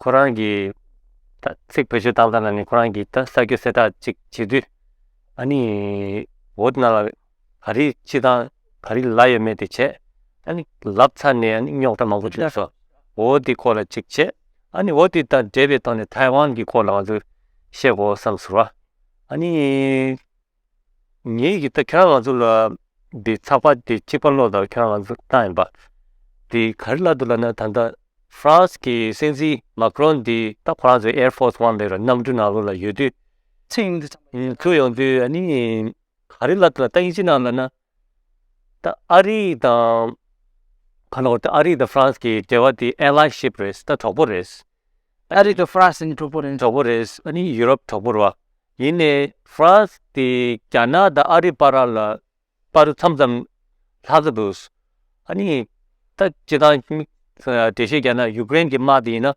ཁོ་རང་གི་ད་ཚིག་བེད་སྤྱོད་བཏང་ཙང་ན་ནི་ཁོ་རང་གི་ད་ས་ཁྱོད་གསལ་བསྒྲགས་གཅིག་བྱེད་དུས་ཨ་ནི་འོ་ན་ལ་ག་རི་ཅི་དང་ག་རི་ལ་ཡོད་མེད་དེ་བྱས་ཨ་ནི་ལབ་ཚར་ནས་ཨ་ནི་རྙོག་དྲ་མང་པོ་བྱུང་སོང་འོ་དེ་སྐོར་ལ་གཅིག་བྱས་ཨ་ནི་འོ་དེ་དང་འབྲེལ་བའི་ཐོག་ནས་ཐའེ་ཝན་གྱི་སྐོར་ལ་ང་ཚོས་བཤད་དགོས་བསམ་ཟེར་བ་ཨ་ནི། ངེད་ཀྱིས་ད་ཁྱོད་རང་ང་ཚོ་ལ་འདི་ཚགས་པར་འདི་གཅིག་པར་ཀློག་དང་ཁྱོད་རང་ང་ཚོ་ལྟ་ཡིན་པ། འདི་ག་རེ་ལབ་འདུག་ལབ་ན་ད་ལྟ France གྱི་སྲིད་འཛིན Macron འདི་ད France གྱི Air Force One ལས་ར་གནམ་གྲུ་ནང་ལོགས་ལ་ཡོད་དུས། ཚིག་ཡོང་དུས་ཨ་ནི་ག་རེ་ལབ་འདུག་ལ་ད་དབྱིན་ཇི་ནང་ལབ་ན་ད་ཨ་རི་དང། ཁ་ལོ་ད་ཨ་རི་དང་ཧྥ་རན་སི་ཀྱི་འབྲེལ་བ་དེ Allyship རེད་ད་གྲོགས་པོ་རེད། ཨ་རི་དང་ཧྥ་རན་སི་ནི་གྲོགས་པོ་རེད། གྲོགས་པོ་རེད་ཨ་ནི་ཡུ་རོབ་གྲོགས་པོ་རེད། ཡིན་ནས་ཧྥ་རན་སི་དེ་རྒྱ་ནག་དང་ཨ་རི་བར་ལ་བར་མཚམས་ཙམ་ལྷག་གི་འདུག། ཨ་ནི་ད་ཇི་ལྟར་འབྲེལ་བཤད་རྒྱག་ན་ཡུཀ་རེན་གྱི་དམག་དེ་ཡིན་ན།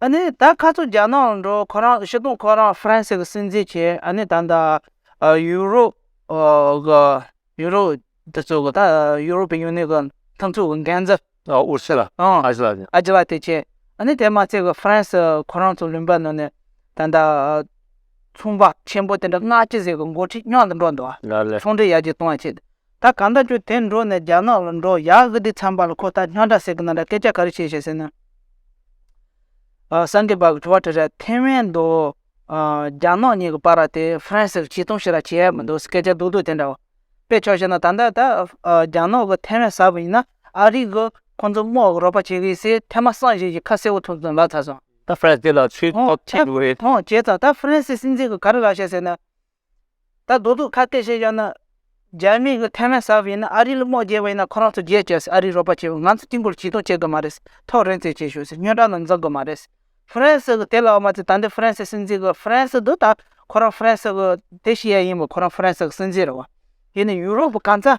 ཨ་ནི་ད་ཁ་ཚུར་རྒྱ་ནག་ལ་འགྲོ་ཁོ་རང་ཕྱི་གཏོང་ཁོ་རང་ཧྥ་རན་སི་གི་སྲིད་འཛིན་བྱས་ཨ་ནི་ད་ད་ཡུ་རོབ་གི་ཡུ་རོབ་དེ་ཚོ་གི་ད་ཡུ་རོབ་པི་ཡུ་ནི་གི་མཐུན་ཚོགས་ཀྱི་འགན་འཛིན། ཨུ་རུ་སི་ལ་ཨ་ཇི་ལ། ཨ་ཇི་ལ་དེ་བྱས་ཨ་ནི་དེ་མ་ཚད་ཀྱི་ཧྥ་རན་སི་ཁོ་རང་ཚོ་ལུང་པ་ནང་ནས་ད་ད་ཚོང་པ་ཆེན་པོ་དེ་འདྲ་སྔ་ཕྱི་ཟིག་གི་འགོ་ཁྲིད་ཉག་ཏུ་འགྲོ་འདུག་ཚོང་འབྲེལ་ཡར་རྒྱས་གཏོང་བ་བྱས། ད་གང་ལྟར་ཁྱོད་དེར་འགྲོ་ནས་རྒྱ་ནག་ལ་འགྲོ་ཡག་གི་འདུག་ཚངས་པ་ལ་ཁོ་ད་སྙ་དྲག་ཟེར་གི་ན་ར་སྐད་ཆ་ག་རེ་བྱས་བྱས་ཟེར་ན། སངས་རྒྱས་པའི་དྲི་བ་དྲིས་ར་ཐེ་ཝན་དུ་རྒྱ་ནག་གཉིས་ཀྱི་བར་ར་དེ་ཧྥ་རན་སི་གིས་ཆིག་སྟོང་བྱས་ར་བྱས་ཡ་མི་འདུག་སྐད་ཆ་སྡུག་སྡུག་དེ་འདྲ་བ། དཔེ་ཆོས་བྱས་ན་ད་ལྟ་ད་རྒྱ་ནག་གི་ཐེ་ཝན་ཟ་བ་ཡིན་ན་ཨ་རིག་གི་ཁོང་ཚོ་དམག་གི་རོགས་པ་བྱེད་གི་སེ་ཐེ་མ་སངས་བྱེད་ཀྱི་ཁ་གསལ་བོ་ཐུག་ཙང་ལ་ཚ་སོང། ད་ཧྥ་རན་སི་ལ་ཚུལ་དོག་ཐེབས་འདུག་རེད། ཧོན་བྱས་ཙང་ད་ཧྥ་རན་སི་སྲིད་འཛིན་གི་ག་རེ་ལ་བྱས་ཟེར་ན། ད་རྡོ་ཐུག་ཁ་གཏད་བྱས་བཞག་ན། རྒྱ་མི་གི་ཐེ་ཝན་ཟ་བ་ཡིན་ན་ཨ་རིའི་ལུག་མོག་རྒྱལ་བ་ཡིན་ན་ཁོ་རང་ཚོ་རྒྱལ་བྱས་ཟེར་ཨ་རིའི་རོགས་པ་བྱས་བ་ང་ཚོ་དཀྱིལ་འཁོར་བྱིས་སྟོང་བྱེད་དགོས་མ་རེད་ཟེར་ཐོག་རེན་ཙེ་བྱས་ཞོག་ཟེར་སྨྱོན་དྲག་ནང་འཛག་དགོས་མ་རེད་ཟེར་ཧྥི་རན་སི་གི་དེ་ལ་འོ་མ་ཚེ་ད་འདི་ཧྥི་རན་སི་སྲིད་འཛིན་གི་ཧྥི་རན་སི་འདུག་ད་ཁོ་རང་ཧྥི་རན་སི་གི་དེ་ཤི་ཡ་ཡིན་པ་ཁོ་རང་ཧྥི་རན་སི་གི་སྲིད་འཛིན་རེད་བ། དེ་ནས་ཡུ་རོབ་གང་ཚ།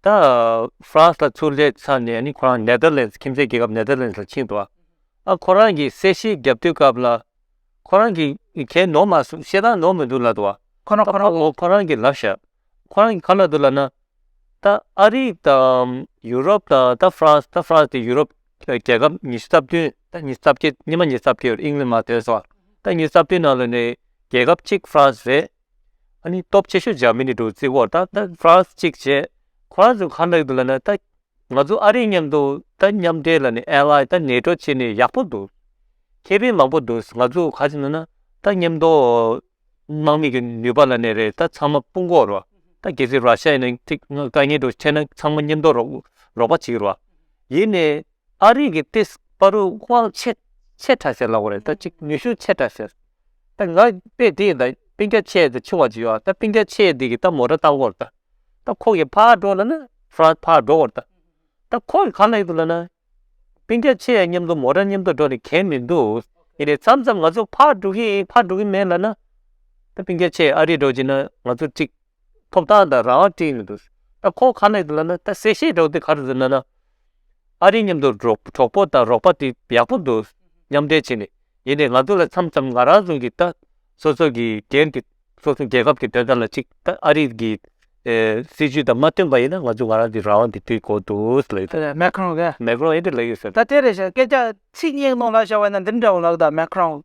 ད་ཧྥ་རན་སི་ལ་ཚུར་སླེབས་ཚར་ནས་ནི་ཁོ་རང་ནེ་ལྡར་ལན་སི་ཁྱིམ་མཚེས་རྒྱལ་ཁབ་ནེ་ལྡར་ལན་སི་ལ་ཕྱིན་འགྲོ། ཨ་ཁོ་རང་གིས་སེར་ཤེས་རྒྱབ་དོད་སྐབས་ལ། ཁོ་རང་གིས་ཁྱེད་ནོར་མ་སོང་ཤེས་དང་ནོར་མི་འདུག་ལབ་ཏུ། ཁོ་རང་ཁོ་རང་ལོ་ཁོ་རང་གིས་ལབ་ཤག་ཁོ་རང་གིས་ག་ལ་འདུག་ལབ་ན། ད་ཨ་རི་དང་ཡུ་རོབ་དང་ད་ཧྥ་རན་སི་ད་ཧྥ་རན་སི་དེ་ཡུ་རོབ་རྒྱལ་ཁབ་ཉི་ཤུ་རྩ་བདུན་ད་ཉི་ཤུ་རྩ་བརྒྱད་ཉི་མ་ཉི་ཤུ་རྩ་བརྒྱད་ཡོད་རེད་ཨིང་ལན་མ་བལྟོས་སོ། ད་ཉི་ཤུ་རྩ་བདུན་ནང་ལ་ནི་རྒྱལ་ཁབ་གཅིག་ཧྥ་རན་སི་རེད། ཨ་ནི་སྟོབས་ཆེ་ཤོས་འཇར་མི་ནི་འགྲོ་བརྩིས་འོག་ད་ད་ཧྥ་རན་སི་གཅིག་བྱས། ཁོ་རང་ཚོ་ཁ་ནག་འདུག་ལ་ནི་ད་ང་ཚོ་ཨ་རིའི་མཉམ་དུ་ད་མཉམ་འབྲེལ་ལ་ནི་ཨལ་ཨའི་ད་ནེ་ཏྲོ་བྱས་ནི་ཡག་པོ་འདུག་ཁེ་ཕན་མང་པོ་འདུག་ང་ཚོ་ག་ཚོད་ན་ན་ད་མཉམ་དུ་དམག་མི་གི་ནུས་པ་ལ་ནི་རེད་ད་ཚང་མ་སྤུན་གོག་རོགས་ད་གལ་སྲིད་ར་ཤ་ཡ་ནི་ཅིག་ང་དཀའ་ངལ་འགྲོ་ཁྱེད་ན་ཚང་མ་མཉམ་དུ་རོགས་རོགས་པ་བྱེད་རོགས། ཡིན་ནི་ཨ་རིའི་གི་ཏེས་པ་རུ་དབང་ཆེ་ཆེ་ཕྲ་སེ་ལ་བ་རེད་ད་ཅིག་ནུས་ཤུགས་ཆེ་ཕྲ་སེ། ད་ང་པེ་ཏི་ཡི་ད་པིན་ཀ་ཆེ་ད་ཆུང་བ་ཆུ་ཡོག་ད་པིན་ཀ་ཆེ་ཡི་དེ་གི་ད་མོ་ར་ཏང་གོར་ད་ད་ཁོ་གི་ཕ་འགྲོ་ལ་ན་ཧྥ་རན་ཕ་འགྲོ་གོར་ད་ད་ཁོ་གི་ཁ་ལེགས་འདུག་ལ་ན་པིན་ཀ་ཆེ་ཡ་མཉམ་དུ་མོ་ར་མཉམ་དུ་འགྲོ་ནི་གལ་མི་འདུག་ཡིན་ནའི་མཚམས་མཚམས་ང་ཚོ་ཕ་འགྲོ་གི་ཡིན་ཕ་འགྲོ་གི་མེད་ལ་ན་ད་པིན་ཀ་ཆེ་ཨ་རི་འགྲོ་ཅིག་ན་ང་ཚོ་ཀྲིག་ཐོབ་ཐང་ད་རང་དབང་ཀྲིག་མི་འདུག་ད་ཁོ་ཁ་ལེགས་འདུག་ལ་ན་ད་སེ་ཤེ་འགྲོ་དེ་ག་རེ་འདུག་ན་ན། ཨ་རིའི་མཉམ་དུ་གྲོགས་པོ་དང་རོགས་པ་དེ་ཡག་པོ་འདུག་མཉམ་འབྲེལ་བྱས་ནས་ཡིན་ནས་ང་ཚོ་ལ་འཚམ་འཚམ་ང་རང་ཚོ་གི་ད་སོ་སོ་གི་རྒྱལ་གི་སོ་སོ་རྒྱལ་ཁབ་གི་དོན་དག་ལ་ཅིག་ད་ཨ་རིའི་གི་སྲིད་ཇུས་དང་མ་བསྟུན་པ་ཡིན་ན་ང་ཚོ་ང་རང་གི་རང་དབང་གི་དུས་གོ་འདུག་ལབ་ཡོད་ད། མེ་ཁྲོང་གི། མེ་ཁྲོང་ཡིན་དུ་ལབ་ཡོད་ཟེར། ད་དེ་རེད་བཤད་སྐད་ཆ་ཚིག་སྙིགས་ནང་ལ་བཤད་བ་ཡིན་ན་འདི་འདྲ་བོ་ལབ་ད་མེ་ཁྲོང།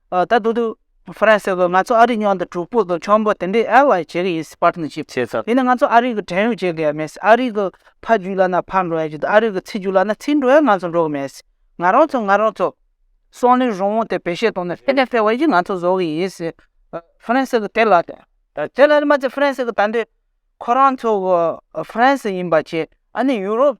ད་དུང་དུ་ཧྥ་རན་སེ་ལ་ང་ཚོ་ཨ་རིའི་མྱང་དང་གྲོགས་པོ་དང་ཆོམ་པོ་དེ་འདྲས་ཨེ་ལ་བྱེད་ཀྱི་ཡིན་སྲིད་པར་ནི་བྱེད། བྱས་ཚར། དེ་ནི་ང་ཚོ་ཨ་རིའི་གི་བྲན་གཡོག་བྱེད་ཀྱི་མེད་སྲིད་ཨ་རིའི་གི་ཕ་རྒྱུད་ལ་ན་ཕ་འགྲོ་ཡ་རྒྱུད་དུ་ཨ་རིའི་གི་ཚེ་རྒྱུད་ལ་ན་ཚེ་འགྲོ་ཡ་ང་ཚོ་འགྲོ་གི་མེད་སྲིད། ང་རང་ཚོ་ང་རང་ཚོ། སང་ལོའི་རང་དབང་དེ་བེད་སྤྱད་གཏོང་ནས་ཧྥེ་ལེ་ཧྥེ་ཝེ་ཡིས་ང་ཚོ་བཟོ་གི་ཡིན་སྲིད། ཧྥ་རན་སེ་གི་དེ་ལ་དེ་དེ་ལ་ནི་མ་ཚད་ཧྥ་རན་སེ་གི་ད་འདོད་ཁོ་རང་ཚོ་གི་ཧྥ་རན་སེ་ཡིན་པ་བྱས་ཨ་ནི་ཡུ་རོབ།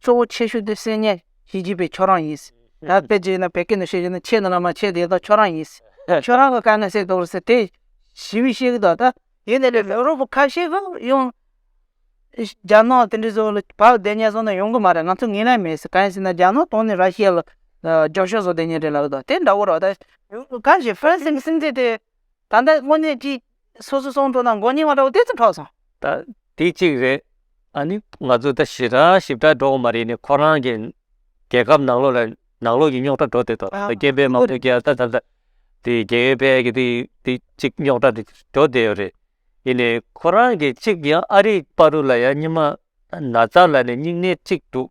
གཙོ་བོ་ཆེ་ཤོས་དེ་བསྲེས་ཉེས་བྱེད་ཀྱི་པའི་ཁྱོད་རང་ཡིན། ད་བེད་སྤྱད་ན་བད་ཀན་དུ་བཤད་ཀྱི་ན་ཆད་ན་ལ་མ་ཆད་དེ་དག་ཁྱོད་རང་ཡིན། ཁྱོད་རང་གི་བཀའ་ན་བསྲེས་དོགས་རེད་དེ་ཞི་བའི་བཤད་ཀྱི་དོགས་ད། ཡིན་ནའི་ལས་རོགས་པོ་ཁ་ཤས་ཀྱང་ཡོང། རྒྱ་ནག་དེ་འདྲའི་བཟོ་ལ་བག་བསྡད་ཉེས་བཟོ་ན་ཡོང་གི་མ་རེད་ང་ཚོ་ངེས་ལེན་མེད་གང་ཡིན་ཟེར་ན་རྒྱ་ནག་དོན་ནི་ར་ཤི་ཡ་ལ་རྒྱབ་ཤོག་བཟོ་བསྡད་ཉེས་རེད་ལབ་ཡོད་དོ་དེ་འདྲ་བོ་རོགས་ད། གང་ཞིག་ཧྥ་རན་སིའི་སྲིད་འཛིན་དེ་ད་ལྟ་དངོས་གནས་ཀྱིས་སོ་སོའི་ཚོགས་འདུ་ནང་མགོ་རྙིང་བ་འདྲ་བོ་དེ་ཚོ་འཕྲོག་སོང། ད་དེ་གཅིག་རེད། ཨ་ནི་ང་ཚོ་ད་ཞི་དྲག་ཞིབ་དྲག་འགྲོ་འོང་མ་རེད་ནི་ཁོ་རང་གི་རྒྱལ་ཁབ་ནང་ལོགས་ལ་ནང་ལོགས་ཀྱི་རྙོག་དྲ་འགྲོ་སྡོད་དོ་ད་རྒྱལ་པའི་དམངས་གཙོ་རྒྱལ་ད་ད་ད་དེ་རྒྱལ་ཡོད་པའི་གི་དེ་དེ་གཅིག་རྙོག་དྲ་དེ་འགྲོ་སྡད་ཡོད་རེད་ཡིན་ནི་ཁོ་རང་གི་གཅིག་ཡང་ཨ་རིའི་པ་རུ་ལ་ཡང་སྙིང་མ་ན་ཚ་ལ་ནི་སྙིང་ནད་གཅིག་འདུག།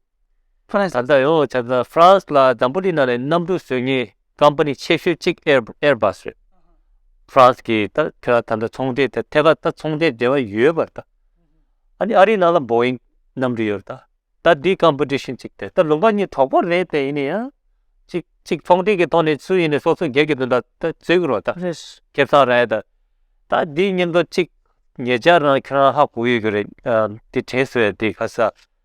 ད་ལྟ་ཡང་བྱས་ཙང་ཧྥ་རན་སི་ལ་འཛམ་བུ་གླིང་ནང་ནས་གནམ་གྲུ་བཟོས་ངེས་ཀམ་པ་ནི་ཆེ་ཤོས་གཅིག་ཨེར་བཱས་རེད། ཧྥ་རན་སི་གིས་ད་ཐེ་ད་ལྟ་ཚོང་འབྲེལ་ཐད་ཐད་ཀར་ད་ཚོང་འབྲེལ་འབྲེལ་བ་ཡོད་པར་ད་ཨ་ནི་ཨ་རིའི་ནང་ལ་འབོ་ཨིང་གནམ་གྲུ་ཡོད་རེད་ད་ད་དེའི་ཀམ་པ་ཏི་ཤིན་གཅིག་རེད་ད་ལུང་པ་གཉིས་གྲོགས་པོ་རེད་དེ་ཡིན་ནའི་ཡང་གཅིག་གཅིག་ཚོང་འབྲེལ་གྱི་ཐོག་ནས་སུ་ཡིན་ནའི་སོ་སོ་སྒེར་གྱི་དོན་དག་ད་བརྩི་གི་རོགས་ད་ཁེ་བཟང་རེད་ད་ད་དེའི་སྙིང་དོན་གཅིག་ངེད་ཅག་རང་ཁྱེད་རང་ཧ་གོ་ཡོད་ཀྱི་རེད་དེ་དྲན་སོས་དེ་ག་ས།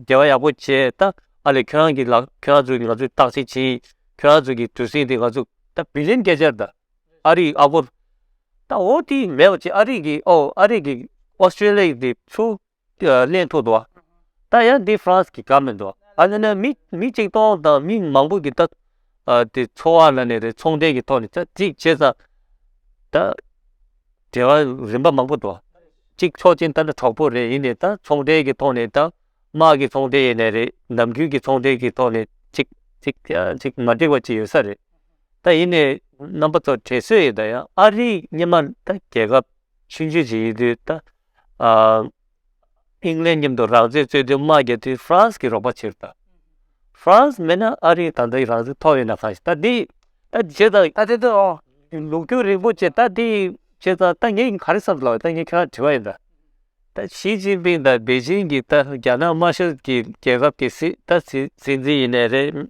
རྒྱལ་བ་ཡག་པོ་བྱས་ད་ཨ་ལས་ཁྱོད་རང་གི་ལགས་ཁྱོད་རང་ཚོས་ང་ཚོས་བརྟག་དཔྱད་བྱེད་ཡིན་ཁྱོད་རང་ཚོས་ཀྱི་དུས་ཟིང་དེ་ང་ཚོས་ད་བི་ལིན་སྐད་ཆར་ད་ཨ་རིའི་ཨ་སྒོར་ད་འོ་དེ་མེད་པ་ཆེ་ཨ་རིའི་གི་ཨོ་ཨ་རིའི་གི་ཨོ་སི་ཀྲེ་ལི་ཡའི་དེ་ཚུ་གླེང་ཐུག་ཏུ་ད་ཡང་དེ་ཧྥ་རན་སི་གི་ག་མེད་ཏུ་ཨ་ན་ན་མི་མི་གཅིག་སྟོང་དང་མི་མང་པོ་གི་ད་དེ་འཚོ་བ་ན་ནས་རེད་ཚོང་འབྲེལ་གི་ཐོག་ནས་ད་ཅིག་བྱས་ཙང་ད། འབྲེལ་བ་རིམ་པ་མང་པོ་འདུག་གཅིག་ཆོག་མཆན་ལྟར་ན་གྲོགས་པོ་རེ་ཡིན་ནས་ད་ཚོང་འབྲེལ་གྱི་ཐོག་ནས་དང་དམག་གི་ཚོང་འབྲེལ་ཡེ་ནས་རེད་ནམ་རྒྱུན་གྱི་ཚོང་འབྲེལ་གྱི་ཐོག་ནས་གཅིག་གཅིག་ཀྱང་གཅིག་མ་འགྲིག་པ་གཅིག་ཡོད་ས་རེད་ད་ཡིན་ནས་རྣམ་པ་ཚོ་བྲེལ་སོས་ཡིན་ད་ཡང་ཨ་རིའི་སྙེ་མ་ད་རྒྱལ་ཁབ་ཆུང་ཆུང་ཞིག་ཡིན་དུས་ད་ཨིང་ལན་མཉམ་དུ་རང་བཙན་རྩོད་དུས་མ་རྒྱལ་དུས་ཧྥ་རན་སི་གི་རོགས་པ་ཕྱིར་བཏང། ཧྥ་རན་སི་མེད་ན་ཨ་རིའི་ད་ལྟའི་རང་བཙན་ཐོབ་ཡོད་ན་གང་ཞིག་ད་འདི་ད་བྱས་ཙང་ད་དེ་དོན་ཨང། ལུགས་ཀྱོ་རིན་པོ་ཆེ་ད་འདི་བྱས་ཙང་ད་ངས་ག་རེ་བསམ་དུ་ལ་བ་ད་ངས་ཁྱོད་རང་དྲི་བ་ཡིན་ད། ད་ཞིས་ཅིན་ཕིང་དང་པེ་ཅིན་གྱིས་ད་རྒྱ་ནག་དམར་ཤོག་གི་རྒྱལ་ཁབ་ཀྱི་སྲིད་ད་སྲིད་འཛིན་ཡིན་ནའི་རེད།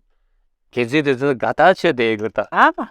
གལ་སྲིད་དེ་ཚོ་དགའ་ཐག་ཆོད་དེ་ཡིན་དགོས་ད།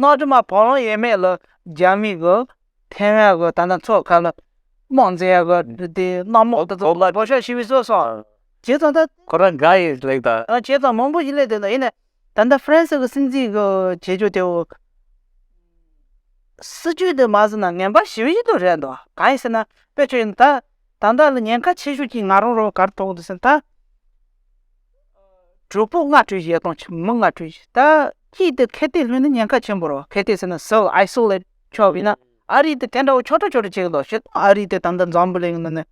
གནའ་དུས་མ་བོ་ལོང་ཡས་མས་ལ་རྒྱ་མི་གི་ཐེ་ཝན་གི་ད་ནང་ཚོགས་ཁག་ལ་དམངས་བཙན་གི་དེ་དེ་གནའ་མོག་ཏུ་བོ་ལོང་བོ་ཤ་ཤི་བི་སོ་སོང་བྱས་ཙང་ད། ཁོ་རང་དགའ་ཡི་ལེགས་ད། ཨ་བྱས་ཙང་མང་པོ་ཞིག་ལེགས་དེ་ད་ཡིན་ནས་ད་ལྟ་ཧྥ་རན་སི་གི་སྲིད་འཛིན་གི་བྱེད་སྤྱོད་དེ་འོ། སྲིད་ཇུས་དེ་མ་ཟིན་ན་ངན་པ་ཞི་བི་ཞིག་ཏུ་རེད་འདུག་གང་ཡིན་ཟེར་ན་དཔེ་ཆོས་ཡིན་ད། དང་བདག་ལ་ཉེན་ཁ་ཆེ་ཤོས་ཀྱི་ང་རང་རང་གར་གཏོགས་འདི་ཟིན་ད། གྲོགས་པོ་ལྔ་སྤྲོད་བྱེད་དང་ཁྱིམ་མི་ལྔ་སྤྲོད་བྱེད་ད་ཀྱིས་དེ་གལ་ཏེ་ལྷུན་ནི་ཉེན་ཁ་ཆེན་པོ་རོ་གལ་ཏེ་ཟིན་ན self isolate ཆོག་ཡིན་ན་ཨ་རི་དེ་དེ་འདྲ་བོ་ཆོ་འདྲ་ཆོ་འདྲ་བྱེད་ལོ་བྱེད་དང་ཨ་རི་དེ་ད་ལྟ་འཛམ་བུ་གླིང་ནང་ནས་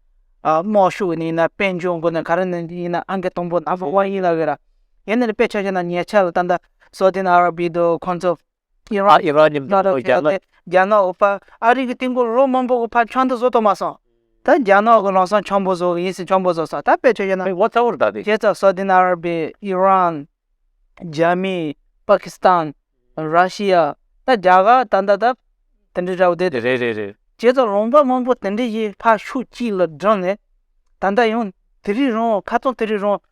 དམག་ཤུགས་ཡིན་ན་དཔལ་འབྱོར་འགོ་ནས་ག་རེ་ནས་ཡིན་ན་ཨ་མཁན་དང་པོ་ནམ་བོ་ཝང་ཡིན་ལ་ཡོད་ར་ཡིན་ནས་དཔེ་ཆ་ཆ་ན་ཉེ་ཆར་ད་ལྟ་སོ་ཏིན་ཨ་ར་བྷི་དུ་ཁོང་ཚོ་ཨི་རག་ཨི་རག་ནི་མཐའ་དང་རྒྱ་ནག། རྒྱ་ནག་ཨོ་པཱ་ཨ་རིག་གི་སྟེང་སྐོར་ལོ་མང་པོ་གོ་ཕ་ཆང་དུ་བཟོ་ཐོག་མ་སོང། ད་རྒྱ་ནག་གི་རང་སྲང་ཆང་པོ་བཟོ་ཡིན་སྲིད་ཆང་པོ་བཟོ་སོང་ད་དཔེ་ཆོས་ཡོད་ན། མི་ངོ་ཚ་བོར་གདའ་དེ། རྒྱལ་ཚབ་སཱའུ་དཱི་ཨ་ར་བྷི། ཨི་རན། རྒྱ་མི། པཱ་ཁི་སི་ཐན། ར་ཤི་ཡ། ད་རྒྱ་གར་ད་ལྟ་ད། དེ་འདྲའི་འདྲ་བོ་དེ། རེད་རེད་རེད། རྒྱལ་ཚབ་ལུང་པ་མང་པོ་དེ་འདྲའི་ཞིག་ཕར་ཤུགས་ཀྱིས་ལ་བསྒྲགས་ནས། ད་ལྟ་ཡང་དེ་རིགས་རང་ཁ་ཚང་དེ་རིགས་རང་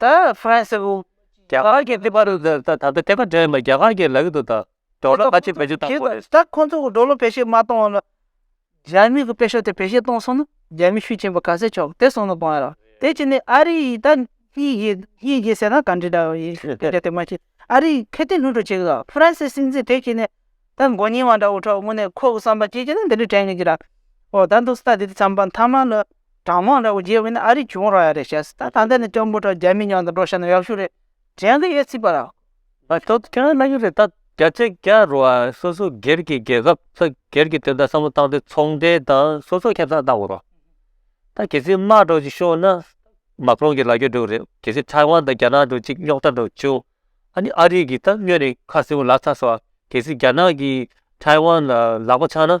ད་ཧྥ་རན་སི་དབུས་རྒྱ་གར་གྱི་ལྟེ་བ་རུ་ད་ལྟ་ལྟེ་བ་འདྲེན་པ་རྒྱ་གར་གྱི་ལག་ཏུ་དང་འགྲོ་ལ་ཁ་ཆེ་བེད་སྤྱོད་བཏང་དགོས། ད་ཁོང་ཚོ་གི་འགྲོ་ལ་བེད་སྤྱོད་མ་བཏང་བ་ན་རྒྱ་མི་གི་དཔེ་ཤོག་དེ་བེད་སྤྱོད་བཏང་སོང་ན་རྒྱ་མི་ཤུགས་ཆེན་པོ་ག་ཚད་ཆོག་དེ་སོང་ན་གང་ཡོད་རང་དེ་བྱས་ནས་ཨ་རི་ཡིས་ད་གཉིས་རྒྱལ་གཉིས་རྒྱལ་ཟེར་ན་ག་འདྲི་འདྲ་བ་ཡིན་ཨ་རི་མ་གཅིག་ཨ་རི་ཁེ་ཏེ་ལྷུན་གྲུབ་བྱེད་གི་དང་ཧྥ་རན་སི་སྲིད་འཛིན་དེ་བྱས་ནས་ད་མགོ་རྙིང་བ་འདྲ་བོ་ཁྲོ་དངོས་ནས་ཁོ་གི་བསམ་པ་ཅི་བྱས་ན་འདི་འདྲི་དྲན་གི་རྒྱུ་ར་ཨོ་ད་འདུག་སྟ་དེ་འདྲི་བསམ་པ་མཐའ་མ་ལ། གྲྭ་མང་འདྲ་བོ་རྒྱལ་བོ་ནི་ཨ་རིའི་གྱོང་རག་ཡ་རེད་བྱས་སོང་ད་ད་ལྟ་ནི་སྐྱ་འབུ་འདྲ་རྒྱ་མི་ཉག་དང་འགྲོ་ཤ་ན་ཡག་ཤོས་རེད་དྲན་གི་ཡོད་སྲིད་པ་ར། ད་ལྟ་ཁྱེད་རང་ལ་ཡོད་རེད་ད་རྒྱ་ཆེ་རྒྱ་རུ་བ་སོ་སོ་སྒེར་གྱི་རྒྱལ་ཁབ་ཚོ་སྒེར་གྱི་དོན་དག་བསམ་བློ་བཏང་སྟེ་ཚོང་འབྲེལ་དང་སོ་སོ་ཁེབས་སངས་བཏང་བ་རོགས་ད་གལ་སྲིད་དམག་འགྲོ་ཅིག་ཤོག་ན་མ་ཀྲོང་གི་ལ་རྒྱོ་འགྲོ་གི་རེད་གལ་སྲིད་ཐའི་ཝན་དང་རྒྱ་ནག་འགྲོ་ཅིག་རྙོག་དྲ་འགྲོ་བྱུང་ཨ་ནི་ཨ་རིའི་གིས་ད་སྨྱོས་ནས་ཁ་སེམས་ལག་ཚ་སོ་གལ་སྲིད་རྒྱ་ནག་གིས་ཐའི་ཝན་ལ་ལག་པ་འཆང་ན་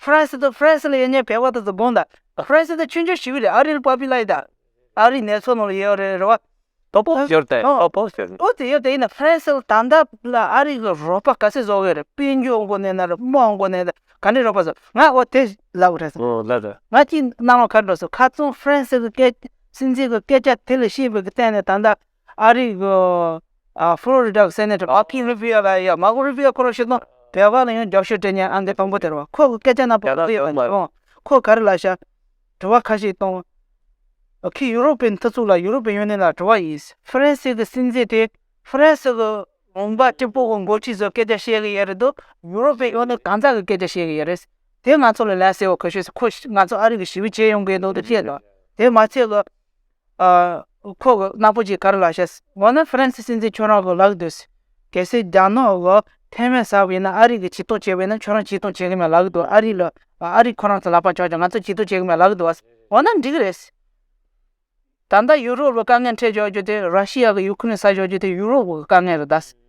ཧྥ་རན་སི་དང་ཧྥ་རན་སི་ལ་ཡོད་ཉེ་བའི་བར་དུ་འཛུལ་དགོངས་དང། ཧྥ་རན་སི་དང་མཆོད་མཇལ་ཞུས་པའི་རིང་ཨ་རིའི་པཱ་པི་ལ་ཡི་དང། ཨ་རིའི་གནས་ཚུལ་ནང་ལ་ཡོད་རེད་རེད་བ། པོ་པོ་ཞོར་དེ་ཨོ་པོ་པོ་ཞོར་པོ་དེ་ཡོད་དེ་ཡིན་ན་ཧྥ་རན་སི་ལ་ད་ལྟ་ལ་ཨ་རིའི་གི་རོགས་པ་ག་ཚད་བཟོ་གི་རེད་དཔལ་འབྱོར་མགོ་ནས་ན་རེ་དམག་མགོ་ནས་ན་རེ་ག་འདྲའི་རོགས་པ་བཟོ་ང་ཨོ་དེ་ལབ་གི་རེད་ཟེར། ཨོ་ལབ་རེད། ང་ཅིག་སྣང་བ་ག་འགྲོ་སོང་ཁ་ཙུམ་ཧྥ་རན་སི་གི་སྐད་སྲིད་འཛིན་གི་སྐད་ཆ་དེ་ལ་ཤེས་པའི་གི་སྟེང་ནས་ད་ལྟ་ཨ་རིའི་ཧྥུ་ལོ་རི་ཏཱ་སེ་ནེ་ཏོར་མཱར་ཁོ་རུ་བྷི་ཡོ་ལ་ཡོད་ཡོད་མཱར་ཁོ་རུ་བྷི་ཡོ་ཁོ་རང་ཤི་སོང་བོད་པ་ལ་ཡང་རྒྱབ་ཤོད་སྤྲད་ཉན་ཨ་འདི་དང་པོ་དེར་བ་ཁོ་གི་སྐད་ཆ་རྣམས་བོད་པ་ཡིན་པ་ཡིན་ཁོ་ག་རེ་ལ་བྱ་དྲི་བ་ཁ་ཤས་གཏོང་ཁོས་ཡུ་རོབ་པའི་མཐུ་ཚོགས་ལ་ཡུ་རོབ་པའི་ཡོན་ཏན་ལ་དྲི་བ་ཡིན་ཧྥ་རན་སི་གི་སྲིད་འཛིན་དེ་ཧྥ་རན་སི་གི་ལུང་པ་ཀྲི་པུའུ་གི་འགོ་ཁྲིད་ཚོས་སྐད་ཆ་བཤད་གི་ཡོད་རེད་དོ་ཡུ་རོབ་པའི་ཡོན་ཏན་གང་ཟག་གི་སྐད་ཆ་བཤད་གི་ཡོད་རེད་དེ་ང་ཚོ་ལ་ལན་གསལ་བོ་གོ་ཤོད་ཁོས་ང་ཚོ་ཨ་རི་གི་ཞི་བའི་ཇེ་ཡོང་གི་ཡིན་ནོ་དེ་བཤད་དོ་དེ་མ་ཚད་ལ་ཁོག་ནག་པོ་ཅིག་གར་ལ་བྱས། འོ་ན་ཧྥ་རན་སི་སྲིད་འཛིན་ཁྱོད་རང་གི་ལག་ཏུ་ཡོད། གལ་སྲིད་རྒྱ་ནག་གི་ཐེ་ཝན་ཟ་བས་ན་ཨ་རི་གིས་ཇུས་གཏོགས་བྱས་པས་ན་ཁྱོད་རང་ཇུས་གཏོགས་བྱེད་གི་མེད་ལག་ཏུ་ཨ་རི་ལ་ཨ་རི་ཁོ་རང་ཚོ་ལག་པ་འཇོག་ཅིང་ང་ཚོ་ཇུས་གཏོགས་བྱེད་གི་མེད་ལག་ཏུ་འོ་ན་འགྲིག་གི་རེད། ད་ལྟ་ཡུ་རོབ་ལ་དཀའ་ངལ་འཕྲད་འཇོག་རྒྱུ་དེ་ར་ཤི་ཡ་གིས་ཡུ་ཁུ་རེན་ཟ་འཇོག་རྒྱུ་དེ་ཡུ་རོབ་ཀྱི་དཀའ་ངལ་རེད།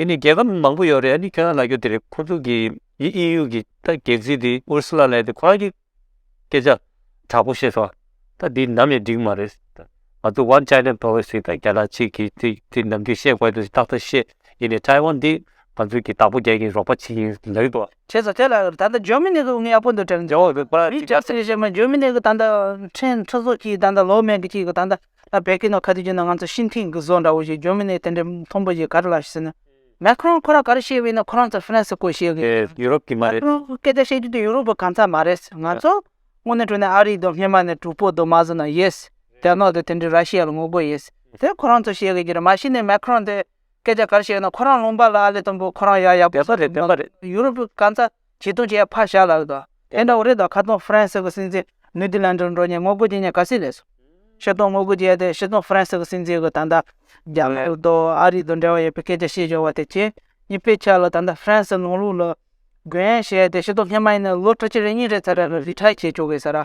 འདི་ནི་རྒྱལ་ཁབ་མང་པོ་ཡོད་རེད་ཨ་ནི་ཁྱོད་རང་ལ་རྒྱུ་དེ་རེད་ཁོ་ཚོ་གི་ཡི་ཨི་ཡུ་གི་ད་རྒྱལ་སྤྱི་དེ་ཨུར་སུ་ལ་ལེན་དེ་ཁོ་རང་གི་སྐད་ཆ་དྲག་པོ་བཤད་ཆོག་ད་འདི་ནམ་ཡང་འགྲིག་མ་རེད་ད་ང་ཚོ One China Policy ད་རྒྱ་ནག་གཅིག་གི་དེ་དེ་ནམ་རྒྱུན་བཤད་དགོས་དེ་ཏག་ཏག་བཤད་ཡིན་ནས་ཐའེ་ཝན་འདི་ང་ཚོའི་གི་བདག་པོ་རྒྱལ་གྱི་རོགས་པ་བྱེད་ཀྱིན་ལེགས་འགྲོ། བྱས་ཚོ་དེ་ལ་ད་ལྟ་ཇོ་མི་ནི་གི་ཡག་པོ་འདུག་དྲན། ཇོ་མི་ནི་གི་ཞེས་མ་ཇོ་མི་ནི་གི་ད་ལྟ་ཕྲན་ཕྲན་ཚོགས་ཀྱིས་ད་ལྟ་ལོ་མན་གྱི་ཅིག་གི་ད་ལྟ། ད་བལ་གི་ནང་ཁ་དུས་རྒྱུ་ན་ང་ཚོ་ཤིན་ཐིང་གི་བཟོ་འདྲ་བོ་ཞིག་འཇོན་མི་ནས་དེ་འདྲའི་མཐོང་པོ་ཞིག་ག་རེ་ལ་ཞིག་ཟེར་ན། མེ་ཁི་རོང་ཁོ་རང་ག་རེ་བཤད་བའི་ནང་ཁོ་རང་ཚོ་ཧྥི་རན་སི་སྐོར་བཤད་གི། ཡུ་རོབ་ཀྱི་མ་རེད། ཁོ་རང་སྐད་ཆ་བཤད་རྒྱུ་དེ་ཡུ་རོབ་པོ་གང་ཙམ་མ་རེད། ང་ཚོ་སྔོན་ནས་གྲོས་ནས་ཨ་རི་དང་སྨྱན་མ་ནས་དྲུག་པོ་དང་མ་བཟོ་ན་ཡེས། རྒྱ་ནག་དང་དེ་འདྲའི་ར་ཤི་ཡ་ལ་ངོ་རྒོལ་ཡེས། དེ་ཁོ་རང་ཚོ་བཤད་གི་རྒྱུ་རེད་མ་གཞི་ནས་མེ་ཁི་རོང་དེ། སྐད་ཆ་ག་རེ་བཤད་ཡོད་ན་ཁོ་རང་ལུང་པ་ལ་ཨ་ལེ་སྟོན་པོ་ཁོ་རང་ཡག་ཡག་པོ་བཤད་རེད་བདེན་པ་རེད་ཡུ་རོབ་གང་ཚ་བྱིས་སྟོན་བྱས་ཕར་བཞག་ལ་ཡོད་དོ་དེ་འདྲ་བོ་རེད་དོ་ཁ་སྟོན་ཧྥ་རན་སི་གི་སྲིད་འཛིན་ནུས་ཏི་ལན་འདྲར་འགྲོ་ཉེ་ངོ་རྒོལ་བྱེད་ཉེ་ག་སྲིད་ལས་སོ། ཕྱི་སྟོན་ངོ་རྒོལ་བྱས་ཏེ་ཕྱི་སྟོན་ཧྥ་རན་སི་གི་སྲིད་འཛིན་གི་ད་ལྟ་རྒྱ་གར་དུ་ཨ་རི་དང་འབྲེལ་བ་ཡོད་པའི་སྐད་ཆ་བཤད་བཞག་བ་དེ་ཁྱེད་གཉིས་པས་ཆ་ལ་ད་ལྟ་ཧྥ་རན་སི་ལང་ལུགས་ལ་རྒོལ་ཡན་བྱས་ཏེ་ཕྱི་སྟོན་ཧི་མ་ཡིན་ན་ལོ་བཀྲ་ཆེ་རེ་གཉིས་རེ་ཚར་རེ་རེ་རི་ཁྲ་བྱས་ཆོག་གི་ཟེར་ར་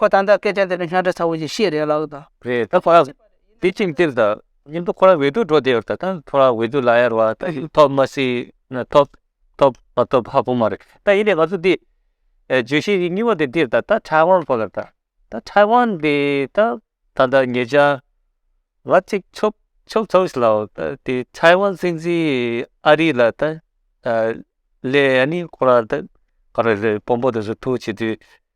ཁོ་ད་ལྟ་སྐད་ཆ་འདི་འདྲ་སྙན་གྲགས་ཚ་བོ་ཞིག་བཤད་རེད་ལགས་དང། རེད་ད་ཁོ་རང་དེ་ཅིག་འདིར་ད་ཉིན་ཐོ་ཁོ་རང་འོས་བསྡུ་འགྲོ་བསྡད་ཡོད་ད་ད་ཁོ་རང་འོས་བསྡུ་ལ་ཡར་བ་ད་ཡིན་ཐོབ་མ་སྲིད་ན་ཐོབ་ཐོབ་མ་ཐོབ་ཧ་གོ་མ་རེད་ད་ཡིན་ནའི་ང་ཚོ་འདི་བརྗོད་གཞི་གཉིས་པ་དེ་འདིར་ད་ད་ཁྲའེ་ཝང་ཕོ་ལ་ད་ད་ཁྲའེ་ཝང་འདི་ད་ད་ད་ངེད་ཅག་ང་གཅིག་ཆོབ་ཆོབ་ཚོ་ཞིག་ལའོ་ད་དེ་ཁྲའེ་ཝང་སྲིད་འཛིན་ཨ་རི་ལ་ད་ལས་ཡ་ནི་ཁོ་རང་ད་ག་རེ་རེད་དཔོན་པོ་དེ་ཚོ་ཐུག་བྱེད་དུས།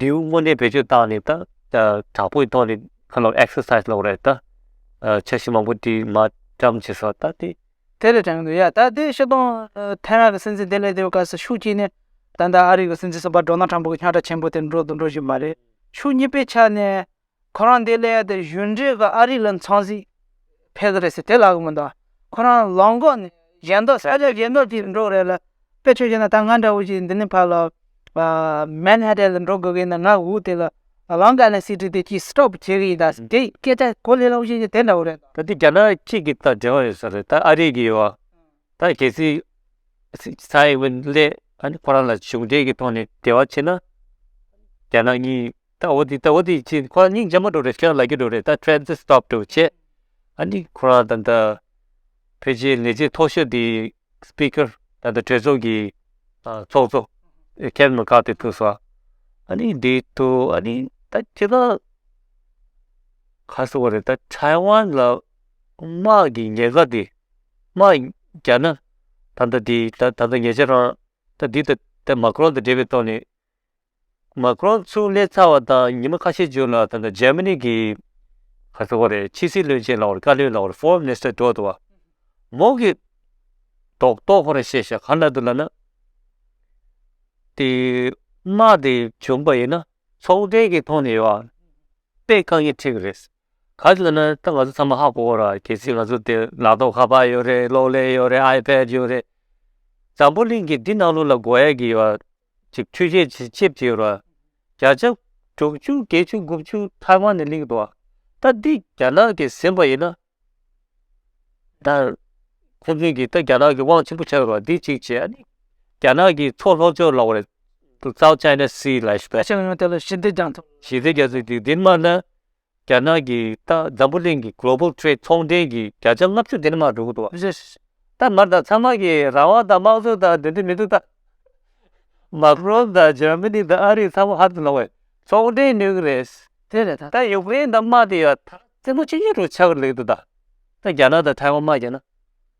དེའུ་དངོས་གནས་བེད་སྤྱོད་བཏང་ནས་ད་དྲག་པོའི་ཐོག་ནས་ཁ་ལོ exercise ལོག་རེད་ད། འཆར་གཞི་མང་པོ་དེ་མ་བཀྲམ་བྱེད་སོགས་ད་དེ། དེ་ལས་དྲང་འདུག་ཡ་ད་དེ་ཤི་སྟོང་ཐེ་རང་གི་སྲིད་འཛིན་དེ་ལས་དེའུ་སྐར་སུ་ཤུགས་སྐྱེས་ནས་ད་ད་ཨ་རིག་གི་སྲིད་འཛིན་གསུམ་པ་འགྲོ་ན་དྲང་པོ་གི་ཉག་ཕྲ་ཆེན་པོ་དེ་འགྲོ་དང་འགྲོ་བཞིན་པ་རེད་ཤུགས་གཉིས་པའི་ཆ་ནས་ཁོ་རང་དེ་ལས་དེ་གཞོན་འབྲས་ག་ཨ་རི་ལ་འཚང་ཟིག་ཕེབས་ཀྱི་རེད་ཟེར་དེ་ལ་གི་མི་འདུག་ཁོ་རང་ལང་གོག་ནས་གཞན་མདོག་གསལ་ལེར་གཞན་མདོག་ཅིག་འགྲོ་གི་རེད་ལ་དཔེ་ཆོས་ཅན་ད་ང་འདྲ་བོ་ཞིག་འདི་ནས་ཕར་ལ་མན་ཧ་ཏན་ལ་འགྲོ་དགོས་ཀྱི་ཡིན་ན་ང་འུ་དེ་ལ་ལང་ག་ནས་སྲིད་ཁྲི་དེ་ཅིག་སྟོབ་བྱེད་ཀྱི་ཡིན་ད་ཟེར་དེ་སྐད་ཆ་གོ་ལེ་ལོག་ཤེས་ཀྱི་དེ་འདྲ་བོ་རེད། ད་དེ་རྒྱ་ནག་གཅིག་གི་དང་འབྲེལ་བ་ཡོད་ས་རེད་ད་ཨ་རི་གི་ཡོད། ད་གལ་སྲིད་ས་ཡ་དབྱི་ཝེ་ལེ་ཁོ་རང་ལ་གཞུང་འབྲེལ་གྱི་ཐོག་ནས་འབྲེལ་བ་བྱེད་ན། རྒྱ་ནག་གཉིས་ད་འོ་དེ་ད་འོ་དེ་བྱས་ཁོ་རང་སྙིང་རྗེ་མ་འགྲོ་རེད་ཁྱོད་རང་ལ་རྒྱུ་འགྲོ་རེད་ད་ཁྲེན་ཚེ་སྟོབས་འགྲོ་བྱེད། ཨ་ནི་ཁོ་རང་ད་ལྟ་བོད་ཆས་ལས་བྱེད་ཐོག་ཤོས་དེ Speaker ད་ལྟ་གྲོས་ཚོགས་ཀྱི་ཚོགས་གཙོ Kevin McCarthy ཐུགས་སོ། ཨ་ནི་དེ་ཐུགས་ཨ་ནི་ད་ཁྱེད་རང་ག་སོང་བ་རེད་ད Taiwan ལ་དམག་གི་ཉེན་ཁ་དེ་དམག་རྒྱག་ན་ད་ལྟ་དེ་ད་ལྟ་ཉེ་ཆར་རང་ད་འདི་ལྟ་མ་ཀྲོན་དང་འབྲེལ་བའི་ཐོག་ནས་མ་ཀྲོན་ཚུར་སླེབས་ཚར་བ་དང་ཉིན་མ་ཁ་ཤས་བྱོན་ལ་ད་ལྟ་ཇར་མ་ནི་གི་ག་ཚོད་རེད་ཕྱི་སྲིད་བློན་ཆེན་ལའོ་རེད་བཀའ་བློན་ལའོ་རེད Foreign Minister འགྲོ་འདུག་བ་མོ་གི་དོག་གཏོགས་ཁོ་རང་བཤད་ཤག་ག་ན་འདུག་ལ་ན། དེ་དམག་དེ་བྱུང་པ་ཡིན་ན་ཚོང་འབྲེལ་གྱི་ཐོག་ནས་ཡོང་བ་དཔེ་བཀག་ཉེན་ཁྲིད་གི་རེད། ག་ཚོད་ན་ད་ང་ཚོ་ཚང་མ་ཧ་གོ་གོ་རག་གལ་སྲིད་ང་ཚོ་དེ་ལག་ཐོག་ཁ་པར་ཡོད་རེད་གློག་ཀླད་ཡོད་རེད་ཨའི་ཕད་ཡོད་རེད། འཛམ་བུ་གླིང་གི་འདི་ནང་ལོགས་ལ་བགོ་ཡས་ཀྱི་ཡོད་ར་ཅིག་འཕྲུལ་ཆས་ཆེ་ཆེ་བྱས་ཡོད་ར་བརྒྱ་ཆ་དྲུག་བཅུ་བརྒྱད་ཅུ་དགུ་བཅུ་ཐའི་ཝན་ནས་གླིང་འགྲོ་ད་འདི་རྒྱ་ནག་གི་ཟིན་པ་ཡིན་ན་ད་ཁོང་ཚོས་ཀྱི་ད་རྒྱ་ནག་གི་དབང་ཆེན་པོ་ཆགས་ཡོད་ར་འདི་གཅིག་བྱས་ཨ་ནི་རྒྱ་ནག་གི་མཚོ་ལྷོ་ཕྱོགས་ལོགས་རེད་བཙའོ་ཅཱའི་ནས་སི་ལ། ཞི་བདེ་རྒྱ་མཚོ་དེ་ལ་ཞི་བདེ་རྒྱ་མཚོ། ཞི་བདེ་རྒྱ་མཚོ་དེ་འདི་མ་ན་རྒྱ་ནག་གིས་ད་འཛམ་བུ་གླིང་གི Global Trade ཚོང་འབྲེལ་གྱི་བརྒྱ་ཆ་ལྔ་བཅུ་དེ་ནི་མར་འགྲོ་གི་འདུག་བ། ད་མར་དང་ཚང་མ་གིས་རང་དབང་དང་དམངས་གཙོ་དང་འདོད་འདོད་མི་འདུག་ད། Macron དང Germany དང་ཨ་རིས་ཚང་མ་ཧར་དུ་ལོག་བས་ཚོང་འབྲེལ་ནུས་གི་རེད། དེ་རེད་ད། ད Ukraine དང་དམག་དེ་ཡོད་ད། ཚེ་སྔོན་ཆད་ཉེ་དུ་ཆགས་གི་རེད་འདུག་ད། ད་རྒྱ་ནག་དང Taiwan དམག་བརྒྱབ་ན།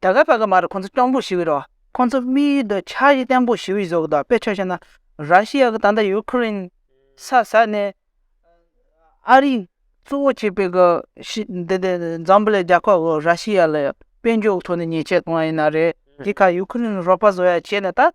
ད་ག་པ་ག་མ་རུ་ཁོང་ཚོ་སྐྱོང་འབུག་ཞི་བའི་རོ། ཁོང་ཚོ་དམིགས་ཡུལ་དུ་ཆགས་ཡིག་སྟེང་འབུག་ཞི་བའི་བཟོ་གི་དོག་པའི་ཆོས་བྱས་ན། ར་ཤི་ཡ་གི་ད་ལྟ་ཡུ་ཁུ་རིན་ས་ས་ནས་ཨ་རིའི་གཙོ་བོ་བྱས་པའི་གི་ཤི་འདི་འདི་འཛམ་བུ་ལའི་རྒྱ་ཁོག་གི་ར་ཤི་ཡ་ལ་དཔལ་འབྱོར་གི་ཐོག་ནས་ཉེས་ཆད་གཏོང་ཡ་ཡིན་ན་རེད་དེ་ག་ཡུ་ཁུ་རིན་རོགས་པ་བཟོ་ཡ་བྱས་ན་ད།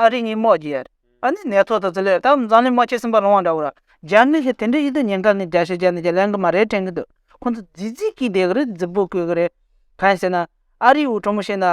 ཨ་རིག་ཉིན་མོ་རྒྱལ། ཨ་ནི་ནས་ཐོག་ཏུ་ཟི་ལས་ཏམ་བཟང་ལི་མ་ཁྱེད་སེམས་པ་རང་དབང་འདྲ་བོ་ར། རྒྱ་མི་ཞིག་དེ་འདྲའི་ཡིད་དུ་ཉན་སྐབས་ནས་རྒྱ་ཞེས་བྱ་ནི་རྒྱ་ལན་གི་མ་རེད་དྲན་གི་འདུག་ཁོང་ཚོ་རྫིག་རྫིག་གིས་བསྡད་གི་རེད་རྫིག་པོ་བསྐུལ་གི་རེད། གང་ཟེར་ན། ཨ་རིའི་འུ་ཕྲུག་མོ་ཞིག་ན།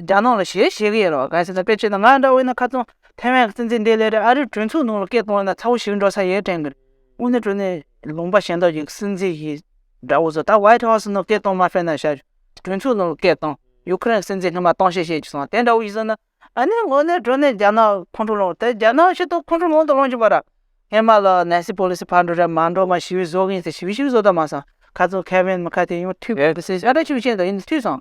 རྒྱ་ནག་ལ་ཞེས་བཤད་གི་ཡོད་རོགས་གང་ཟེར་ན་དཔེར་བྱས་ན་ང་འདྲ་བོ་ཡིན་ན་ཁ་ཙུམ་ཐེ་ཝན་གི་སྲིད་འཛིན་དེ་ལས་རེ་ཨ་རིའི་གྲོས་ཚོགས་ནང་ལ་སྐད་གཏོང་ན་ཚ་བོ་ཞིག་འགྲོ་ས་ཡོད་དྲན་གི་རེད། དངོས་གནས་གྲོས་ནས་ལུང་པ་ཞེ་འདོགས་ཀྱི་སྲིད་འཛིན་ཞིག་འདྲ་བོ་ཚོ་ད White House ནང་སྐད་གཏོང་མ་ཕེབས་ན་བྱ། གྲོས་ཚོགས་ནང་ལ་སྐད་གཏོང་ཡུ་ཁི་རེན་གི་སྲིད་འཛིན་ངྷི་མ་གཏོང་བཤད་བཤད་ཀྱི་སོང་དེ་འདྲ་བོ་ཞིག་བཟོ་ན། ཨ་ནེ་ངོ་ནས་འགྲོ་ནས་རྒྱ་ནག་ཁོང་ཁྲོ་སློང་དེ་རྒྱ་ནག་ཤི་ཏོག་ཁོང་ཁྲོ་མང་དུ་སློང་བཞིན་པ་ར་ངས་མ་ལ་ནན་སི་པོ་ལི་སི་ཕར་འགྲོ་ར་མར་འགྲོ་མར་ཞི་བའི་བཟོ་གིན་ཏེ་ཞི་བའི་ཞིག་བཟོ་ད་མ་སང་ཁ་ཙོང་ཁ་བན་མི་ཁ་ཏེ་ཡོང་ཐུས་བེ་བི་སི་ཨ་ཏྲ་ཆུ་ཆེན་དང་ཡིན་ཐུས་སང་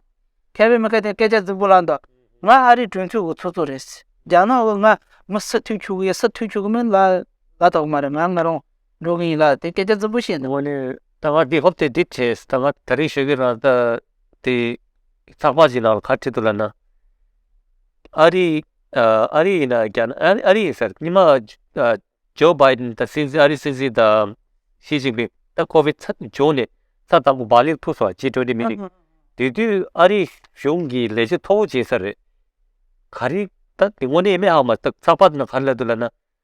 ཁ་བན་མི་ཁ་ཏེ་སྐད་ཆ་རྫིག་པོ་ལ་འདོག་ང་ཨ་རི་གྲོན་ཐུས་གུ་ཚོགས་ཚོགས་རེད་རྒྱ་ནག་བོ་ང་མི་སི་ཐུས་ཆུ་གུ་ཡ་སི་ཐུས་ཆུ་གུ་མིན་ལ་ལ་དོག་མ་ར་ང་ང་རང་འགྲོ་གིན་ཡིན་ལ་ཏེ་སྐད་ཆ་རྫིག་པོ་བཤད་འདུག། ངོ་ནས་ད་ང་འདི་ཧོབ་ཏེ་འདི་བྲེས་ད་ང་ད་རིང་ཤོད་གིན་ར་ད། དེ་ཚགས་པར་ཞིག་ནང་ལ་ཁ་ཕྲལ་འདུག་ལབ་ན། ཨ་རི་ཨ་རི་ཡིན་ན་རྒྱ་ནག་ཨ་རི་ཡིན་ཟེར་ཉི་མ་ཇོ་བྷའི་དན་དང་སྲིད་འཛིན་ཨ་རིའི་སྲིད་འཛིན་དང་ཞི་ཅིང་ཕིང་ད་ཁོ་བོའི་ཚབ་བྱུང་ནས་ཚ་དམ་པོ་བག་ལེབ་ཐུག་སོང་བ་ཅི་འདྲ་འདྲ་མི་རིག་དེ་དུས་ཨ་རིའི་གཞུང་གི་ལས་བྱེད་མཐོ་བོ་བྱེད་ས་རེད་ག་རེད་ད་དེ་དངོས་གནས་སྨྲས་ཧ་མ་ཐག་ཚགས་པར་ནང་ཁ་ལབ་འདུག་ལབ་ན།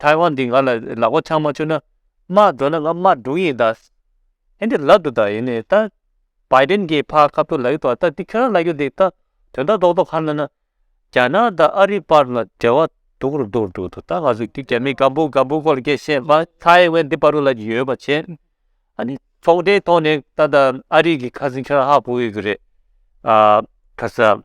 ཐའེ་ཝན་འདི་ང་ལ་ལག་པ་འཆང་མ་བཅུག་ན། དམག་འགྲོ་ན་ང་དམག་སྒྲུང་ཡིན་ད། ཨེ་འདི་ལབ་འདུག་ད་ཡིན་ནའི་ད། བའི་དན་གྱིས་ཕ་ཁ་བཏུ་ལ་ཡུག་ཏོ་ད་འདི་ཁྱོད་རང་ལ་ཡུག་འདི་ད། དོན་དག་རྡོག་རྡོག་ཁ་ན་ན། རྒྱ་ནག་ད་ཨ་རི་བར་ལ་འབྲེལ་བ་སྡུག་རུ་འདུག་འདུག་ཏོ་ད་ང་ཚོས་འདི་རྒྱ་མི་སྒམ་པོ་སྒམ་པོ་ཁོ་ལ་ཁྱེད་ཤེས་མ་ཐའེ་ཝན་འདི་པ་རུ་ལ་ཡི་ཡོད་པ་བྱེད། ཨ་ནི་ཚོང་འབྲེལ་ཐོག་ནས་ད་ད་ཨ་རི་གི་ཁ་ཟིན་ཁྱོད་རང་ཧ་གོ་གི་གི་རེད། ཨ། ཁ་ས།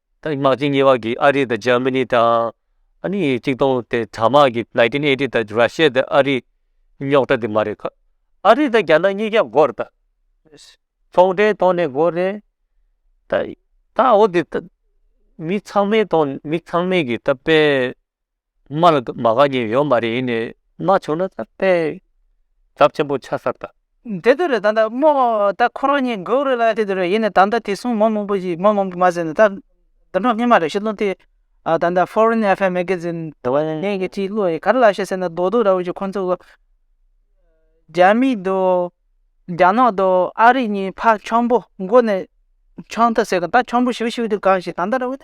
དེང་དམག་སྤྱི་གཉིས་བར་གྱི་ཨ་རི་དང་ཇར་མི་ནི་དང། ཨ་ནི་གཅིག་སྟོང་དེ་དྲ་དམག་གི Nineteen Eighty དང་ར་ཤི་ཡ་དང་ཨ་རི་རྙོག་དྲ་དེ་མ་རེད་ཁ། ཨ་རི་དང་རྒྱ་ནག་གཉིས་ཀྱང་འགོ་རེད་ད། ཚོང་འབྲེལ་ཐོག་ནས་འགོ་རེད་ད། ད་འོ་དེ་ད། མི་ཚང་མའི་ཐོག་མི་ཚང་མས་གི་ད་དཔེ། མ་ལ་མ་ག་གྱིས་ཡོད་མ་རེད་ཡིན་ནས་མ་བྱུང་ན་ད་དཔེ་དབྱབ་ཆེན་པོ་ཆགས་གསར་ད། འདི་དུས་རེད་ད་ད་མོ་ད་ཁོ་རང་གཉིས་འགོ་རུ་ལ་དེ་དུས་རེད་ཡིན་ནས་ད་ད་དེ་སོང་མོ་མང་པོ་ཞིག་མོ་མང་པོ་མ་ཟེར་ནས་ད་དོན་གྲོགས་གཉིས་མ་རེད་ཤི་ལོ་དེ་ད་ད Foreign Affair Magazine དེ་བ་ཡན་གྱི་གཅིག་བློ་ཡིས་ག་རེ་ལབ་ཤེས་ཟེར་ན་རྡོག་རྡོག་ར་བོ་ཞིག་ཁོང་ཚོ་གོ་རྒྱ་མི་དང་རྒྱ་ནག་དང་ཨ་རི་གཉིས་ཕ་ཆོམ་པོ་འགོ་ནས་ཆོམ་ཐབས་ཟེར་གི་ད་ཆོམ་པོ་ཞིབ་ཞིབ་དུ་གང་ཞིག་ད་ད་ར་བོ་ད།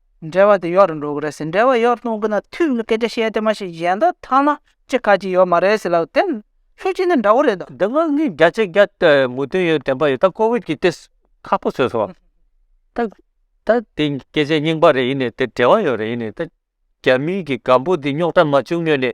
འབྲེལ་བ་དེ་ཡོག་རེད་འགྲོ་གི་རེད་ཟེར་འབྲེལ་བ་ཡོག་གཏོང་གི་ན་དུས་ཀྱི་སྐད་ཆ་བཤད་དེ་མ་ཤེས་གཞན་དག་ཐང་ན་ཅི་ཁ་ཅི་ཡོག་མ་རེད་ཟེར་ལབ་དེ་ཤུགས་ཆེ་ནི་འདྲ་བོ་རེད། འདི་སྔོན་གྱི་རྒྱ་ཆེ་རྒྱ་མུ་དོན་ཡོད་བདེན་པ་ཡོད་ད་ཀོ་བིད་ཀྱི་ཏེ་ཁ་ཕོ་བཟོས་སོང་ད་ད་དེ་སྐད་ཆ་རྙིང་པ་རེད་ཡིན་ནས་དེ་འབྲེལ་བ་ཡོག་རེད་ཡིན་ནས་ད་རྒྱ་མི་གི་སྒམ་པོ་དེ་རྙོག་དྲ་མ་བྱུང་སྔོན་ནས།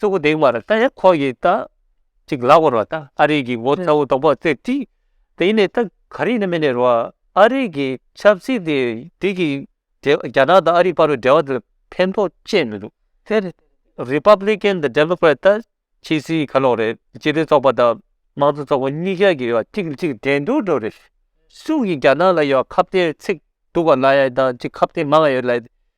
གཙོ་བོ་དེའི་བར་ད་ཡང་ཁོ་ཡིས་ད་ཅིག་ལག་བོར་བ་ད་ཨ་རིག་གི་ངོ་ཚ་བོ་དང་པོ་རྩེ་དྲིས་ད་ཡིན་ནས་ད་ག་རིག་ནས་མི་ནས་རོ་ཨ་རིག་གི་ཆབ་སྲིད་དེ་དེ་གི་འབྲེལ་བ་རྒྱ་ནག་དང་ཨ་རིག་བར་བའི་འབྲེལ་བ་དེ་ལ་ཕན་ཐོག་ཅེས་མི་འདུག་དེར Republican དང Democrat ད་ཕྱི་སྲིད་ག་ལོག་རེད་སྤྱི་མཐུན་ཚོགས་པ་དང་དམངས་གཙོ་ཚོགས་པ་གཉིས་ཀ་གི་ཡོ་བ་གཅིག་ལ་གཅིག་འགྲན་སྡུར་འགྲོ་རེད་སུ་ཡིས་རྒྱ་ནག་ལ་ཡོ་བ་ཁ་བརྟན་ཚིག་སྡུག་བ་ལ་ཡ་དང་ཅིག་ཁ་བརྟན་མང་ཡོད་ལ་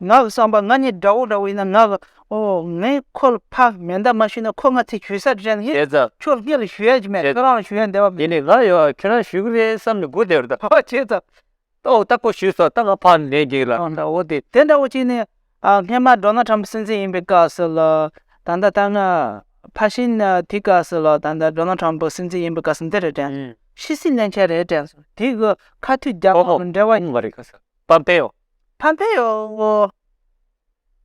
ངག་གི་བསམ་པ་ང་ནི་དགྲ་བོ་འདྲ་བོ་ཡིན་ན་ངག་གི། ཨོ། ངས་ཁོ་ལ་ཕ་མེས་འདབ་མ་ཞུས་ན་ཁོ་ང་ཚེ་ཞུས་ས་དྲན་ཧེ། བྱས་ཙང། ཁྱོད་ངེད་ལ་ཞུ་ཡ་ཅིག་མེད་ཁྱོད་རང་ལ་ཞུ་ཡ་འདས་པ་མེད། དེ་ནས་ང་ཡང་ཁྱོད་རང་ཞུ་གི་རེད་བསམ་ནས་སྒུག་བསྡད་པ་དང། ཨོ་བྱས་ཙང། ཨོ་ད་ཁོ་ཞུས་སོང་ད་ང་ཕ་མེས་འགྱིག་ལ་ད་འོ་དེ། དེ་འདྲ་བོ་ཅིག་ནས། སྔས་མ་འགྲོ་ན་ཁྲམ་སྲིན་སྲིན་ཡིན་པའི་སྐབས་སུ་ལ། ད་ལྟ་ད་ང་ཕ་ཤི་ན་དེ་སྐབས་སུ་ལ་ད་ལྟ་འགྲོ་ན་ཁྲམ་བུ་སྲིན་སྲིན་ཡིན་པའི་སྐབས་སུ་འདི་རེད་དྲན། ཤི་སྲིད་གླེན་ཆ་རེད་དྲན། དེ་གི་ཁ་མཐུད་རྒྱག་པ་མི་འདྲ་བ། ཨོ་ཨོ། ཨོ་མ་རེད་ཁ་སང་པ་འཕེན་ཡོང། ཐང་ཐེ་ཡོ།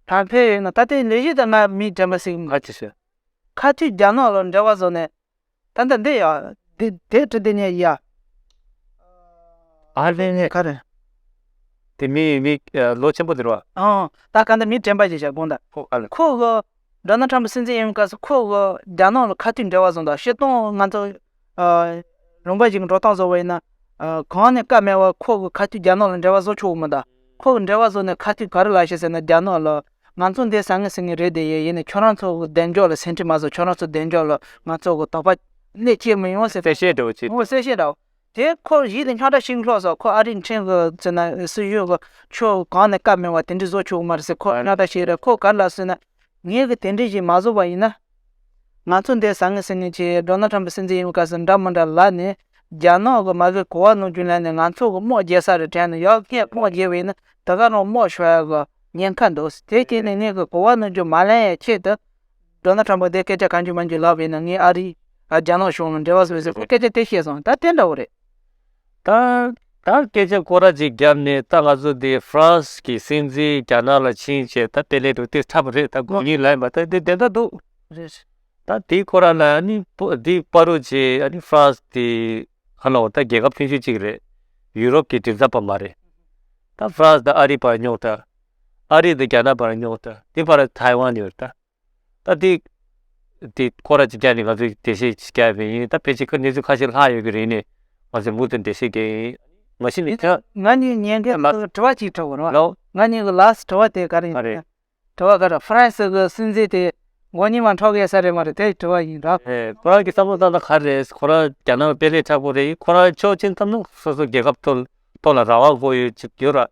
ཐང་ཐེ་ཡོ་ནི་ད་ལྟའི་མདོས་བཞི་དང་ནང་མི་དྲན་པ་ཞིག་མ་ཆུ་ཞེས། ཁ་ཆུ་རྒྱ་ནག་ལོ་འབྲེལ་བ་བཟོ་ནས། ད་ལྟ་འདི་ཡོ། དེ་དེ་དྲི་དེ་ནས་ཡ། ཨར་ལས་ནས་ཁ་རེད། དེ་མི་མི་ལོ་ཆེན་པོ་དེར་བ། ཨང། ད་ག་འདི་མི་དྲན་པ་ཞེས་བྱ་གོང་ད། ཁོ་ཨ་ལས། ཁོ་གོ། སྒྲ་ནག་ཁྲམ་པ་སྲིད་འཛིན་ཡིན་པའི་སྐབས་སུ་ཁོ་གོ་རྒྱ་ནག་ལོ་ཁ་ཆུ་འབྲེལ་བ་བཟོ་འདུག་བཤད་སྟོང་ང་ཚོ། རུང་བ་ཞིག་འགྲོ་སྟངས་བཟོ་བ་ཡིན། གང་ནས་སྐབས་སྨྲས་བར་ཁོག་གི་ཁ་ཐུག་རྒྱ་ནག་ལ་འབྲེལ་བ་བཟོ་ཆོག་གི་མི་ད། ཁོག་གི་འབྲེལ་བ་བཟོ་ནས་ཁ་ཐུག་ག་རེ་ལ་ཞེས་ཟེར་ན་རྒྱ་ནག་ལ། ང་ཚོ་འདི་ཟ་ངེས་ཟ་ངེས་རེད་དེ་ཡས་ཡིན་ནས་ཁྱོད་རང་ཚོ་གི་གདེང་འཇོག་ལ་ཟིན་བྲིས་མ་བཟོ་ཁྱོད་རང་ཚོ་གདེང་འཇོག་ལ་ང་ཚོ་གི་དོགས་པ་ནས་སྐྱེལ་མི་ཡོང་ཟེར། གསལ་བཤད་འདྲ་བོ་བྱེད། ངོ་གསལ་བཤད་འདྲ་བོ། དེ་ཁོར་ཡིད་ལ་ཉག་ཕྲ་ཞིག་ལྷོག་སོང་ཁོ་ཨ་རིའི་འཕྲིན་གི་ཟེར་ན་སྲིད་གཞུང་གི་ཆོས་གང་ནས་སྐབས་སྨྲས་བར་དེ་འདྲི་བཟོ་ཆོག་གི་མ་རེད་ཟེར་ཁོ་ཉག་ཕྲ་ཞིག་རེད་ཁོ་ག་རེ་ལ་ཟེར་ན། ངས་གི་དེ་འདྲི་ཞིག་མ་བཟོ་བ་ཡིན་ན། ང་ཚོ་འདས་ཟ་ངེ་ཟིན་ནས་ཀྱི་འགྲོ་ན་ཁྲམ་པའི་སྲིད་འཛིན་ཡིན་པའི་སྐབས་སུ་འདྲ་མི་འདྲ་ལ་ནི། རྒྱ་ནག་གི་མ་གིས་གོ་བ་ནོར་རྒྱུ་ལས་ནི་ང་ཚོ་གི་དམག་རྒྱལ་ས་རེ་དྲན་ནས་ཡག་སྔས་དམག་རྒྱལ་བས་ནི་དེ་ག་རང་དམག་ཤོར་ཡག་གི་ཉེན་ཁ་འདུག་དེ་སྐྱེས་ནས་ངས་གི་གོ་བ་ནོར་རྒྱུ་མ་ལེན་ཡའི་ཆེད་དུ། འགྲོ་ན་ཁྲམ་པ་དེ་སྐད་ཆ་ག་འགྱུར་མ་འགྱུར་ལབ་བས་ནི་ངས་ཨ་རི། རྒྱ་ནག་གཞུང་ལ་འབྲེལ་བ་བཟོས་ཟེར་ཁོས་སྐད་ཆ་དེ་བཤད་སོང་ད་དེ་འདྲ་བོ་རེད། ད་ལྟ་སྐད་ཆ་ཀོ་ར་ཅིག་བརྒྱབ་ནས་ད་ང་ཚོ་འདི་ཧྥ་རན་སི་གི་སྲིད་འཛིན་རྒྱ་ནག་ལ་ཕྱིན་ཆད་ད་པེ་ལེ་དུ་སྟེར་ཐབས་རེད་ད་དགོས་ངེས་ལ་ཡིན་པ་ད་འདི་དེ་འདྲ་འདུག་རེད། ད་དེའི་ཁོ་ར་ལ་ཨ་ནི་འདི་པཱ་རུ་ཆེ་ཨ་ནི་ཧྥ་རན་སི་དེ་ཨ་ནོ་ད་རྒྱལ་ཁབ་ཆུང་ཆུང་ཅིག་རེད་ཡུ་རོབ་ཀྱི་མགྲིན་ཚབ་པ་མ་རེད། ད་ཧྥ་རན་སི་དང་ཨ་རི་བར་རྙོག་དྲ་ཨ་རི་དང་རྒྱ་ནག་བར་རྙོག་དྲ་དེ་བར་ཐའེ་ཝན་ཡོད་ད། ད་དེ། དེ་ཁོ་ར་ཅིག་བསྐྱལ་ནས་ང་ཚོས་འགྲེལ་བཤད་ཅིག་བསྐྱལ་བས་ཡིན་ད་ཕལ་ཆེར་གནས་ཚུལ་ཁ་ཤས་ལྷག་ཡོད་ཀྱི་རེད་ནས་ང་ཚོས་མུ་མཐུད་འགྲེལ་བཤད་བསྐྱལ་ཡིན། མ་གཞི་ནས་དེ། ང་གཉིས་ཉན་མཁན་ལ་དྲི་བ་གཅིག་དྲི་བར། ལོ། ང་གཉིས་ཀྱི་ལགས་སུ་དྲི་བ་དེ་ག་རེ་ཡིན། ག་རེ། དྲི་བ་ག་རེ་ཧྥ་རན་སི་གི་སྲིད་འཛིན་དེ་མགོ་གཉིས་མ་འཕྲོག་གི་ས་རེད་མ་རེད་དེ་དྲི་བ་ཡིན་རབས། ཨེ་ཁོ་རང་གི་བསམ་བློ་ལྟར་ན་ག་རེ་རེད་ཁོ་རང་རྒྱ་ནག་དཔེ་ལས་ཁྲག་པོ་རེད་ཁོ་རང་ཆོས་ཅན་ཐབས་ན་སོ་སོ་རྒྱལ་ཁབ་ཐོག་ལ་རང་དབང་དགོས་ཡོད་ཅིག་ཡོད་ར།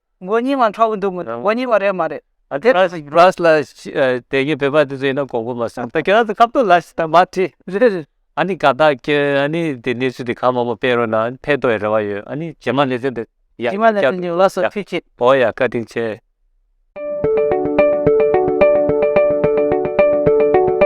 མགོ་རྙིང་བ་འཁྲ་བོ་འདུག་མོད་མགོ་རྙིང་བ་རེད་མ་རེད། དེ་ར་སི་རཱས་ལ་དེ་གའི་བོད་པ་དེ་ཚོ་ཡིན་ན་གོང་བུ་མ་སོང་ད་ཁྱེད་རང་ཚོ་ཁ་བསྡུར་ལ་ཞིག་དང་མ་བྲིས། རེད་རེད། ཨ་ནི་ཀ་དག་ཁྱེད་རང་ཨ་ནི་དེ་གནས་ཚུལ་དེ་གང་མང་པོ་སྤེལ་རོགས་གནང་ཕེད་ཏོ་ཡི་རེ་བ་ཡོད་ཨ་ནི་རྗེས་མ་ལས་དོན་དེ་རྗེས་མ་ལས་དོན་དེ་ལ་སོགས་ཁྱེད་ཀྱིས། བོ་ཡ་བཀའ་དྲིན་ཆེ།